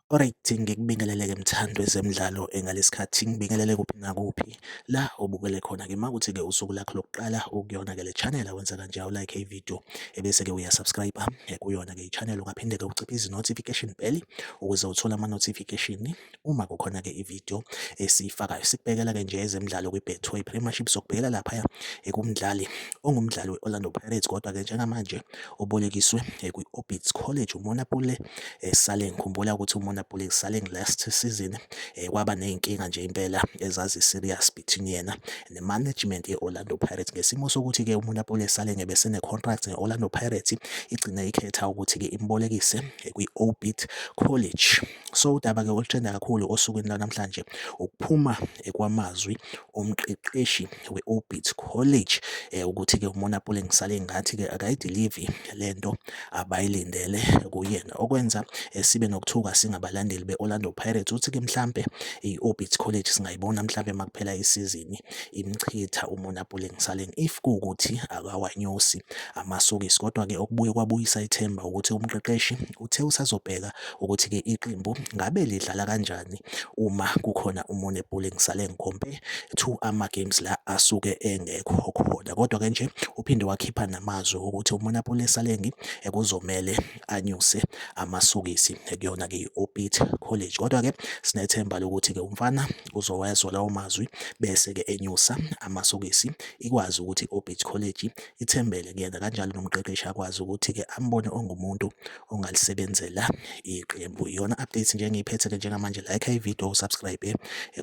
Alright, ngikubingelele-ke mthandi wezemidlalo engalesikhathi ngibingelele kuphi nakuphi. la obukele khona ke makuthi ke usuku lakho lokuqala ukuyona ke le channel awenza kanje awu like ivideo ebese ke uya subscribe eh, kuyona ke ichannel ungaphinde ke uciphe izi notification bell ukuze uthole ama notification uma kukhona ke ivideo esifakayo sikubekela ke nje ezemidlalo kwi Betway Premiership sokubhekela lapha ekumdlali ongumdlali we Orlando Pirates kodwa ke njengamanje ubolekiswe eh, kwi-Orbits College umona Pule eh, sale ngikhumbula ukuthi umona Pule sale last season eh, kwaba ney'nkinga nje impela ezazi-serious between yena ne-management ye-Orlando Pirates ngesimo sokuthi-ke umona Pule sale ngebe sene-contract ne-Orlando Pirates igcine ikhetha ukuthi-ke imbolekise kwi-Orbit College so udaba-ke oluthenda kakhulu osukwini lwanamhlanje ukuphuma kwamazwi umqeqeshi we-Orbit College eh, ukuthi-ke uMonapule ngisale ngathi-ke akayidilivi le nto abayilindele kuyena okwenza eh, sibe nokuthuka singabalandeli be-Orlando Pirates ukuthi-ke mhlampe i-Orbit College singayibona mhlampe uma kuphela isizini imchitha uMonapule ngisale if kuwukuthi akawanyusi amasokisi kodwa-ke okubuye kwabuyisa ithemba ukuthi umqeqeshi uthe usazobheka ukuthi-ke iqembu ngabe lidlala kanjani uma kukhona umunye ebholeni ngisale ngikhompe to ama-games la asuke engekho khona. Kodwa-ke nje uphinde wakhipha namazwi okuthi uMonapule Salengi kuzomele anyuse amasokisi kuyona-ke i-Orbit College. Kodwa-ke sinethemba lokuthi-ke umfana uzowezwa lawo mazwi bese-ke enyusa amasokisi ikwazi ukuthi i-Orbit College ithembele kuyena kanjalo nomqeqeshi akwazi ukuthi-ke ambone ongumuntu ongalisebenzela iqembu. Iyona update nje engiyiphethele njengamanje like ivideo usubscribe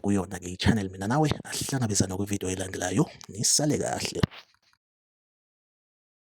kuyona ke i-channel mina nawe asihlangabezana kwivideo elandelayo nisale kahle.